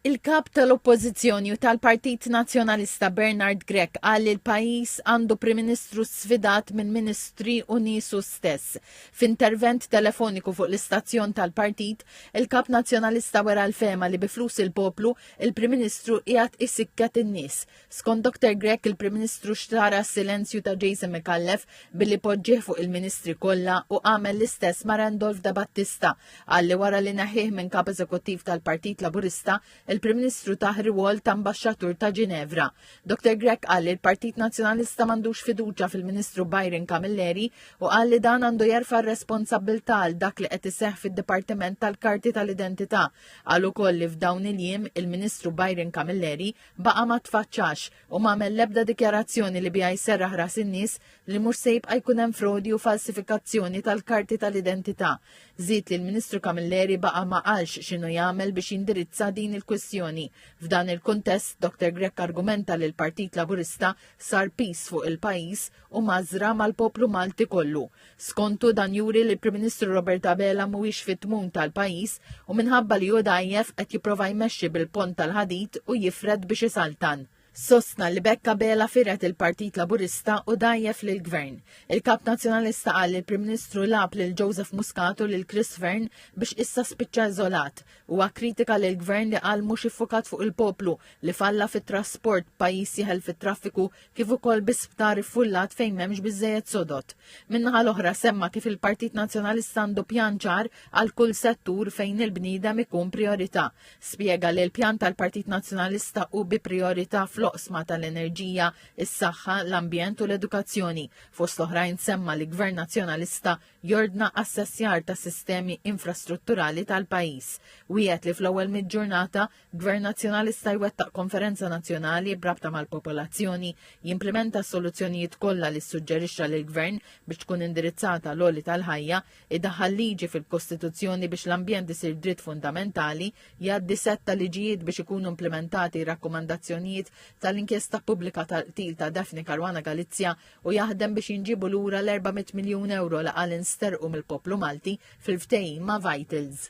Il-Kap tal-Oppożizzjoni u tal-Partit Nazzjonalista Bernard Grech qal li l-pajjiż għandu Prim Ministru sfidat minn Ministri u niesu stess. F'intervent telefoniku fuq l-istazzjon tal-Partit, il-Kap Nazzjonalista wera l-fehma li bi flus il-poplu, il-Prim Ministru qiegħed isikket in-nies. Skont Dr Grech il-Prim Ministru xtara s-silenzju ta' Jason Micallef billi poġġih fuq il-Ministri kollha u għamel l-istess ma' Randolph Da Battista qal li wara li neħħih minn Kap Eżekuttiv tal-Partit Laburista il-Prim Ministru tah rwol ta' Mbaxxatur ta' Ginevra. Dr Grech qal li l-Partit Nazzjonalista m'għandux fiduċja fil-Ministru Byron Camilleri u qal li dan għandu jerfa' r-responsabbiltà għal dak li qed iseħħ fid-Dipartiment tal-Karti tal-Identità. Qal ukoll li f'dawn il-jiem il-Ministru Byron Camilleri baqa' ma tfaċċax u m'għamel l-ebda dikjarazzjoni li biha jserraħ ras in-nies li mhux se jibqa' jkun hemm frodi u falsifikazzjoni tal-karti tal-identità. Żied li l-Ministru Camilleri baqa' ma qalx x'inhu jagħmel biex jindirizza din il-kwistjoni. F'dan il-kuntest, Dr Grech argumenta li l-Partit Laburista sar piż fuq il-pajjiż u mgħażżra mal-poplu Malti kollu. Skontu dan juri li l-Prim Ministru Robert Abela mhuwiex fit-tmun tal-pajjiż u minħabba li hu dgħajjef qed jipprova jmexxi bil-pont tal-ħadid u jifred biex isaltan. Sostna li b'hekk Abela fired il-Partit Laburista u dgħajjef lill-Gvern. Il-Kap Nazzjonalista qal li l-Prim Ministru lagħab lil Joseph Muscat u lil Chris Fearne biex issa spiċċa iżolat. Huwa kkritika lill-Gvern li qal mhux iffukat fuq il-poplu, li falla fit-trasport, pajjiż jeħel fit-traffiku, kif ukoll bi sptar iffullat fejn m'hemmx biżżejjed sodod. Min-naħa l-oħra semma kif il-Partit Nazzjonalista għandu pjan ċar għal kull settur fejn il-bniedem ikun priorità. Spjega li l-pjan tal-Partit Nazzjonalista hu bi priorità fl-oqsma tal-enerġija, is-saħħa, l-ambjent u l-edukazzjoni. Fost l-oħrajn semma li Gvern Nazzjonalista jordna assessjar ta' sistemi infrastrutturali tal-pajjiż. Wiegħed li fl-ewwel mid-ġurnata Gvern Nazzjonalista jwettaq konferenza nazzjonali b'rabta mal-popolazzjoni, jimplimenta s-soluzzjonijiet kollha li ssuġġerixxa lill-Gvern biex tkun indirizzata l-għoli tal-ħajja, idaħħal liġi fil-Kostituzzjoni biex l-ambjent isir dritt fundamentali, jgħaddi sett ta' liġijiet biex ikunu implimentati r-rakkomandazzjonijiet tal-inkjesta pubblika tal-qtil ta' Daphne Caruana Galizia u jaħdem biex jinġiebu lura l-400 miljun ewro li qal insterqu mill-poplu Malti fil-ftehim ma' Vitals.